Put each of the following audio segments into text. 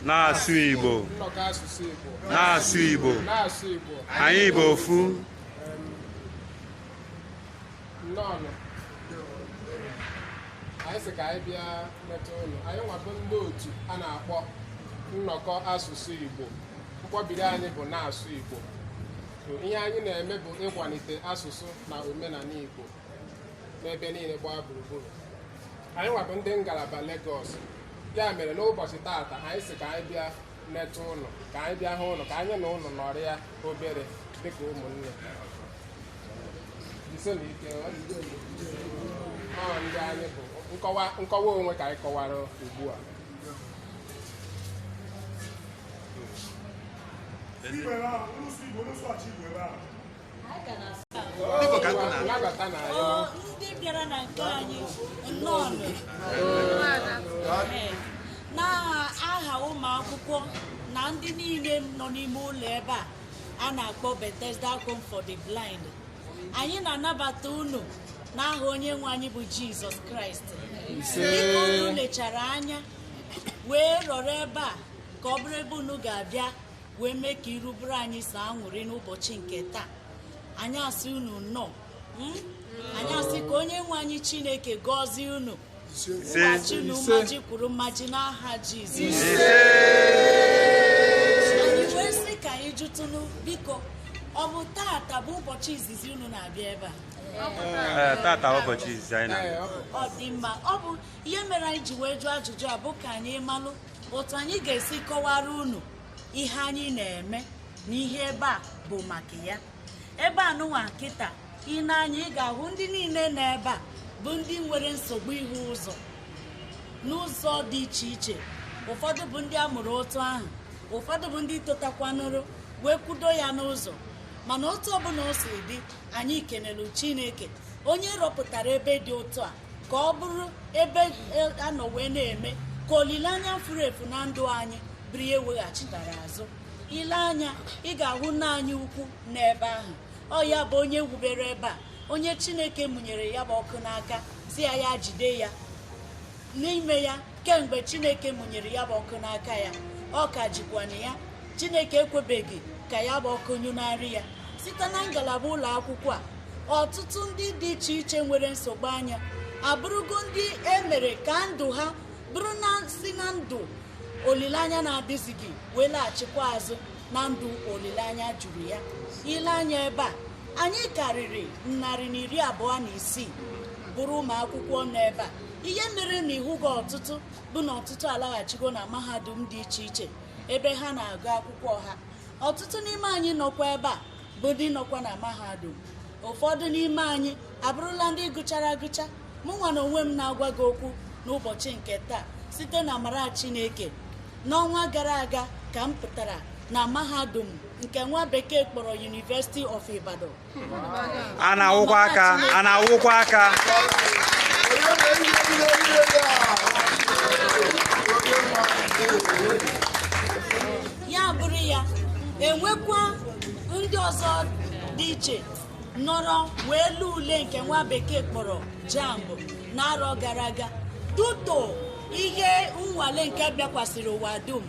na-asụ Igbo na-asụ Igbo anyị bụ ofu anyị sị ka anyị bịa netụ unu anyịnwa bụ ndị otu a na-akpọ nnọkọ asụsụ Igbo mkpọbiri anyị bụ na-asụ Igbo ihe anyị na-eme bụ ịkwalite asụsụ na omenala Igbo n'ebe niile gbaa gburugburu anyịnwa bụ ndị ngalaba Lagos ya mere n'ụbọchị taata anyị sị ka anyị bịa netụ unu ka anyị bịa hụ unu ka anyị na unu nọrịa obere dịka ụmụnne ndị anyị bụ nkọwa onwe ka anyị kọwara ugbu a ndị bịara na nke anyị nnọọnụ n'aha ụmụ akwụkwọ na ndị niile nọ n'ime ụlọ ebe a a na-akpọ Bethesda Home for the Blind anyị na-anabata unu n'aha onye nwe anyị bụ Jizọs Kraịst dịka unu lechara anya wee rọrọ ebe a ka ọ bụrụ ebe unu ga-abịa wee mee ka iru bụrụ anyị sọ aṅụrị n'ụbọchị nke taa anyị asị unu nnọọ mm? anyị asị ka onye nwe anyị chineke gọzie unu kwụghachi unu mmaji kwuru mmaji n'aha jizọs anyị wee sị ka anyị jụtụnụ biko ọ bụ tata bụ ụbọchị izizi unu na-abịa ebe a tata ụbọchị izizi anyị na-abịa ọ dị mma ọ bụ ihe mere anyị ji wee jụọ ajụjụ a bụ ka anyị malụ otu anyị ga-esi kọwara unu ihe anyị na-eme na ihe ebe a bụ maka ya ebe a nụnwa kịta i ne anya ị ga-ahụ ndị niile nọ ebe a bụ ndị nwere nsogbu ịhụ ụzọ n'ụzọ dị iche iche ụfọdụ bụ ndị a mụrụ otu ahụ ụfọdụ bụ ndị totakwanụrụ wee kwudo ya n'ụzọ mana otu ọbụla o si dị anyị kenelu chineke onye rọpụtara ebe dị otu a ka ọ bụrụ ebe e, a nọ wee na-eme ka olileanya furu efu na ndụ anyị bụrụ ihe e weghachitara azụ i le anya ị ga-ahụ nna anyị ukwu n'ebe ahụ ọ ya bụ onye wubere ebe a onye chineke mụnyere ya bụ ọkụ n'aka sị ya ya jide ya n'ime ya kemgbe chineke mụnyere ya bụ ọkụ n'aka ya ọ ka jikwanụ ya chineke ekwebeghị ka ya bụ ọkụ nyụnarị ya site na ngalaba ụlọ akwụkwọ a ọtụtụ ndị dị iche iche nwere nsogbu anya abụrụgo ndị e mere ka ndụ ha bụrụ na si na ndụ olileanya na-adịzighị wee laghachikwa azụ na ndụ olileanya juru ya i le anya ebe a anyị karịrị narị na iri abụọ na isii bụrụ ụmụ akwụkwọ nọ ebe a ihe mere na ị hụghị ọtụtụ bụ na ọtụtụ alaghachigo na mahadum dị iche iche ebe ha na-agụ akwụkwọ ha ọtụtụ n'ime anyị nọkwa ebe a bụ ndị nọkwa na mahadum ụfọdụ n'ime anyị abụrụla ndị gụchara agụcha mụ nwa na onwe m na-agwa gị okwu n'ụbọchị nke taa site n'amara Chineke n'ọnwa gara aga ka m pụtara na mahadum nke nwa bekee kpọrọ University of Ibadan a na-akụkwa aka a na-akụkwa aka ya bụrụ ya enwekwa ndị ọzọ dị iche nọrọ wee lee ule nke nwa bekee kpọrọ JAMB n'arọ gara aga due to ihe nnwale nke bịakwasịrị ụwa dum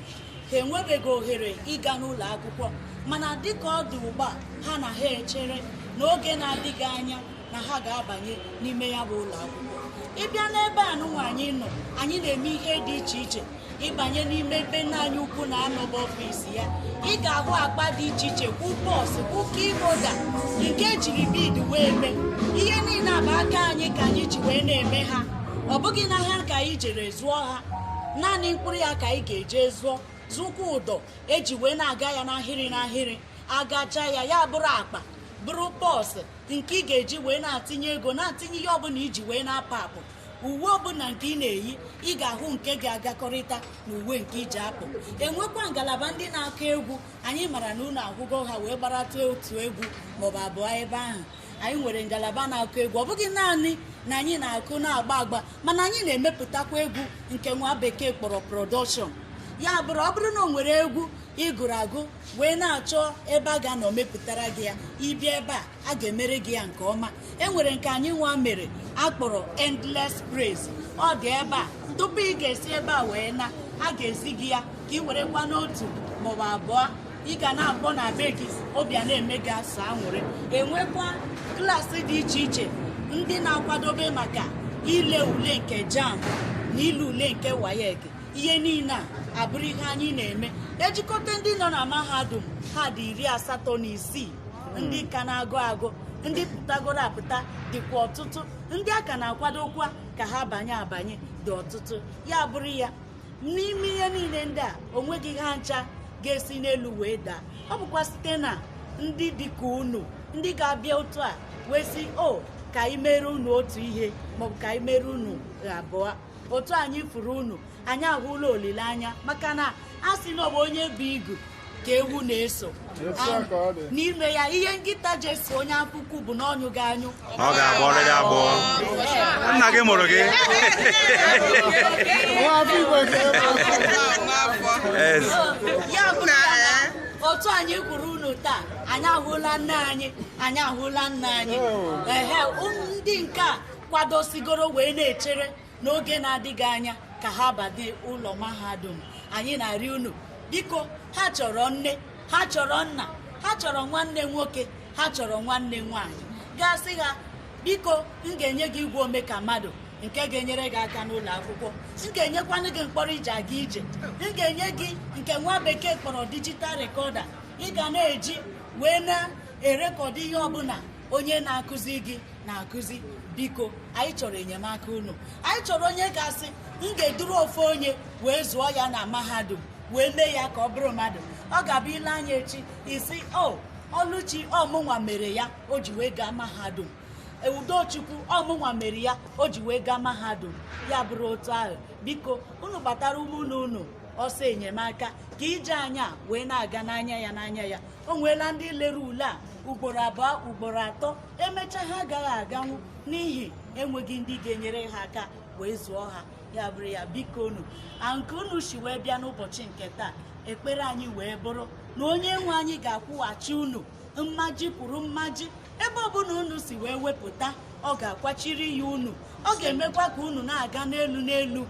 ha enwebeghị ohere ịga n'ụlọ akwụkwọ mana dịka ọ dị ugbu a ha na ha echere n'oge na-adịghị anya na ha ga-abanye n'ime ya bụ ụlọ akwụkwọ ị bịa n'ebe a nụnwa anyị nọ anyị na-eme ihe dị iche iche ị banye n'ime ebe nna anyị ukwu na-anọba ọfịs ya ị ga-ahụ akpa dị iche iche kwụ purse kwụ key holder nke ejiri bead wee mee ihe niile a bụ aka anyị ka anyị ji wee na-eme ha ọ bụghị n'ahịa ka anyị jere zụọ ha naanị mkpụrụ ya ka anyị ga-eje zụọ zụkwa ụdọ eji wee na-aga ya n'ahịrị n'ahịrị agacha ya ya bụrụ akpa bụrụ purse nke ị ga-eji wee na-atinye ego na-atinye ihe ọbụla iji wee na-apụ apụ uwe ọbụla nke ị na-eyi ị ga-ahụ nke ga-agakọrịta na uwe nke iji apụ enwekwa ngalaba ndị na-akụ egwu anyị mara na unu ahụgo ha wee gbarata otu egwu maọbụ abụọ ebe ahụ anyị nwere ngalaba na-akụ egwu ọ bụghị naanị na anyị na-akụ na-agba agba mana anyị na-emepụtakwa egwu nke nwa bekee kpọrọ production ya bụrụ ọ bụrụ na o nwere egwu ị gụrụ agụ wee na-achọ ebe a ga-anọ mepụtara gị ya ị bịa ebe a a ga-emere gị ya nke ọma e nwere nke anyị nwa mere akpọrọ Endless Praise ọ dị ebe a tupu ị ga-esi ebe a wee naa a ga-ezi gị ya ka ị werekwanụ otu maọbụ abụọ ị ga na-akpọ na be gị obi a na-eme gị asọ anwụrị enwekwa klaasị dị iche iche ndị na-akwadobe maka ile ule nke JAMB na ile ule nke WAEC ihe niile a abụrụ ihe anyị na-eme ejikọta ndị nọ na mahadum ha dị iri asatọ na isii ndị ka na-agụ agụ ndị pụtagoro apụta dịkwa ọtụtụ ndị a ka na-akwadokwa ka ha banye abanye dị ọtụtụ ya bụrụ ya n'ime ihe niile ndị a onweghị ha ncha ga-esi n'elu wee daa ọ bụkwa site na ndị dị ka unu ndị ga-abịa otu a wee sị o ka anyị mere unu otu ihe maọbụ ka anyị mere unu abụọ otu anyị fụrụ unu anyị ahụla olileanya maka na a sị na ọ bụ onye bu igu ka ewu na-eso n'ime ya ihe nkịta ji eso onye afọ ukwu bụ na ọ nyụghị anyụ ọ ga-agbọrọ ya agbọ nna gị mụrụ gị ya bụ na otu anyị hụrụ unu taa anyị ahụla nne anyị anyị ahụla nna anyị ehe ndị nke a kwadosigoro wee na-echere n'oge na-adịghị anya ka ha banye ụlọ mahadum anyị na-arịọ unu biko ha chọrọ nne ha chọrọ nna ha chọrọ nwanne nwoke ha chọrọ nwanne nwaanyị ga-asị ha biko m ga-enye gị igwe ome ka mmadụ nke ga-enyere gị aka n'ụlọ akwụkwọ m ga-enyekwanụ gị mkpọrọ e ji aga ije m ga-enye gị nke nwa bekee kpọrọ digital recorder ị ga na-eji wee na-erekọdụ ihe ọbụla onye na-akụzi gị na-akụzi biko anyị chọrọ enyemaka unu anyị chọrọ onye ga-asị m ga-eduru ofu onye wee zụọ ya na mahadum wee mee ya ka ọ bụrụ mmadụ ọ ga-abụ i lee anya echi ị sị o oh, Ọlụchi ọ mụnwa mere ya o ji wee gaa mahadum Udochukwu ọ mụnwa mere ya o ji wee gaa mahadum ya bụrụ otu ahụ biko unu gbatara ụmụnne unu ọsọ enyemaka ka ije anyị wee na-aga n'anya ya n'anya ya o nweela ndị lere ule a ugboro abụọ ugboro atọ emechaa ha agaghị aganwu n'ihi enweghị ndị ga-enyere ha aka wee zụọ ha ya bụrụ ya biko unu a nke unu si wee bịa n'ụbọchị nke taa ekpere anyị wee bụrụ na onye nwe anyị ga-akwụghachi unu mmaji kwuru mmaji ebe ọbụla unu si wee wepụta ọ ga-akwachiri ya unu ọ ga-emekwa ka unu na-aga n'elu n'elu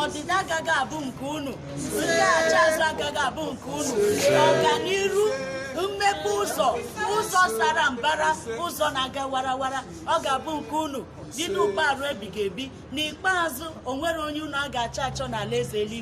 ọdịda agaghị abụ nke unu ndaghachi azụ agaghị abụ nke unu ọganiru mmepe ụzọ ụzọ sara mbara ụzọ na-aga warawara ọ ga-abụ nke unu bido ugbu a ruo ebighị ebi n'ikpeazụ o nweghị onye unu a ga-achọ achọ n'alaeze eluigwe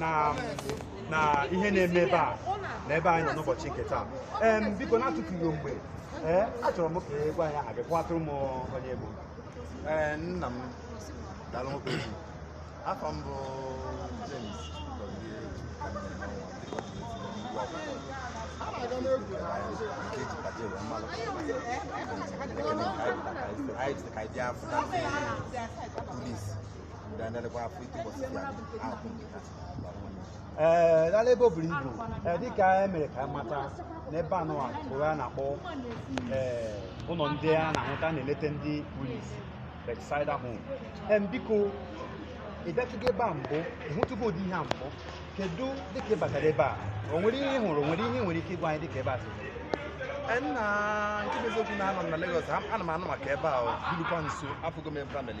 na na ihe na-eme ebe a na ebe anyị nọ n'ụbọchị nke taa ee biko n'atụfughị mgbe ee achọrọ m ka ị gwa anyị aha gị kọwatụrụ m onye ị bụ ee nna m daalụ nke ukwu afa m bụ James Gozie Anyị dị ka anyị bịa fụta ndị kpuru isi ee daalụ ebe o buru ibu ee dịka e mere ka m mata na ebe a nụwa bụ a na-akpọ ee ụlọ ndị a na-ahụta na-eleta ndị kpuru isi Bethesda Home em biko ị bịatụgo ebe a mbụ ị hụtụgo ụdị ihe a mbụ kedu dịka ị batara ebe a o nwere ihe ị hụrụ o nwere ihe ị nwere ike ịgwa anyị dịka ebe a si dị? nna nke bụ eziokwu na anọ m na Lagos ana m anụ maka ebe a o, birukwa nso afụgo m ebe a mere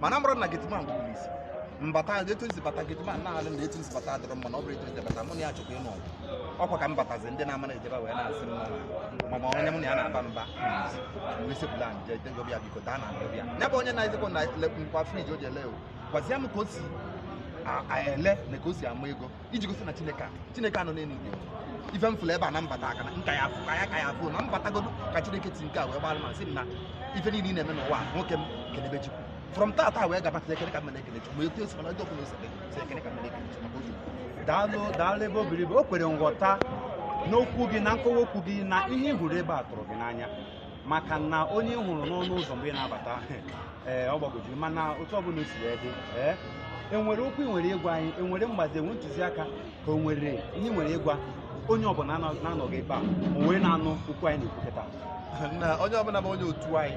mana mụrụ na gateman bụbụrụ isi mbata etu m si bata gateman na-alụ na etu m si bata adịrọ mma na ọ bụrụ etu m si bata mụ na ya chọkwa ịnụ ọgụ ọkwa ka m batazi ndị na-amara ejebe wee na-asị m ma ma onye mụ na ya na-aba mba mesepụla nje dego bịa biko daa na ndụ bịa ya bụ onye na-ezekwa na nkwa friji o ji ele o gwazie m ka o si a- a- ele na ka o si ama ego iji gosi na chineke a chineke a nọ n'elu igwe ife m fụrụ ebe a na mbata aka na nka ya afụ ka ya ka ya afụ na mbatagodo ka chineke ti nke a wee gbara ma sị m na ife niile ị na-eme n'ụwa a, nwoke m kelebe chukwu from tata wee gaba ekele ka m na-ekele chukwu ma etu esi mana ndị ọbụla ose si ekele ka m na-ekele chukwu maka oge daalụ daalụ ebe o buru ibu o kwere nghọta n'okwu gị na nkọwa okwu gị na ihe ị hụrụ ebe a tụrụ gị n'anya maka na onye ị hụrụ n'ọnụ ụzọ mgbe ị na-abata ee ọ gbagojiri mana otu ọbụla o si wee dị ee enwere okwu ị nwere ịgwa anyị enwere mgbazi enwe ntụziaka ka o nwere ihe ị nwere ịgwa onye ọbụla na- na-anọghị ebe a o wee na-anụ okwu anyị na-ekwukọta na onye ọbụla bụ onye otu anyị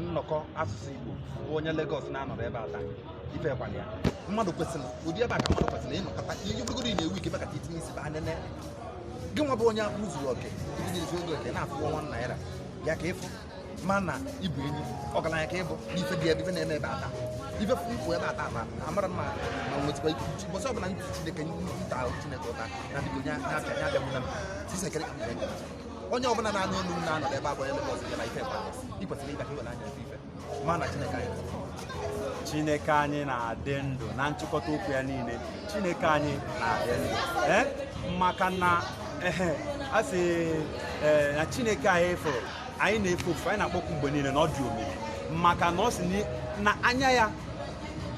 nnọkọ asụsụ igbo bụ onye Lagos na-anọrọ ebe a taa ife kwala ya mmadụ kwesịrị ụdị ebe a ka mmadụ kwesịrị ịnọkọta ihe ogologo ị na-ewu ike maka itinye isi ba nene gị nwa bụ onye akpụ zuru oke ndị na-ezu ego oke na-afụ nwa naira ya ka ịfụ mana ịbụ enyi ọgaranya ka ịbụ n'ife dị ebe ife na-eme ebe a taa ife fụ mkpụ ebe a taa ma amara mma ma nwetakwa ike ụbọchị ọbụla ndị chineke nta ahụ chineke ụta na dịgo onye na-abịa ya abịa mụna sisekere ka mgbe onye ọbụla na-anụ olu m na-anọ ebe abụọ ya mebe ọzọ ya na ife mkpa i kwesịrị ịbịa ka i were anya ife ife chineke anyị na-adị ndụ na nchịkọta okwu ya niile chineke anyị na-adị ndụ eh? maka na a sị eh, na chineke anyị fụrụ anyị na-efe ofufe anyị na-akpọku mgbe niile na ọ dị omimi maka na ọ sị na anya ya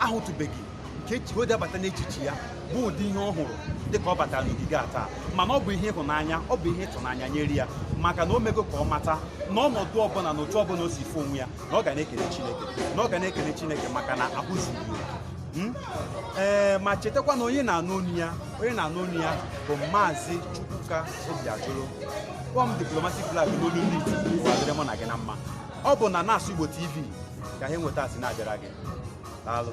ahụtụbeghị nke o ji abata n'echiche ya bụ ụdị ihe ọ hụrụ dịka ọ batara n'ogige a taa mana ọ bụ ihe ịhụnanya ọ bụ ihe ịtụnanya nyere ya maka na o mego ka ọ mata na ọnọdụ ọbụla na otu ọbụla o si fụ onwe ya na ọ ga na-ekele Chineke na ọ ga na-ekele Chineke maka na akụziri hmm? ee ma chetakwa na onye na-anụ onu ya onye na-anụ onu ya bụ maazị Chukwuka Obiajulu kpọọ m diplomatic flag n'olu ndị Igbo ọ dịrị mụ na gị na mma ọ bụ na Na-asụ Igbo TV ka ihe nweta a si na-abịara gị daalụ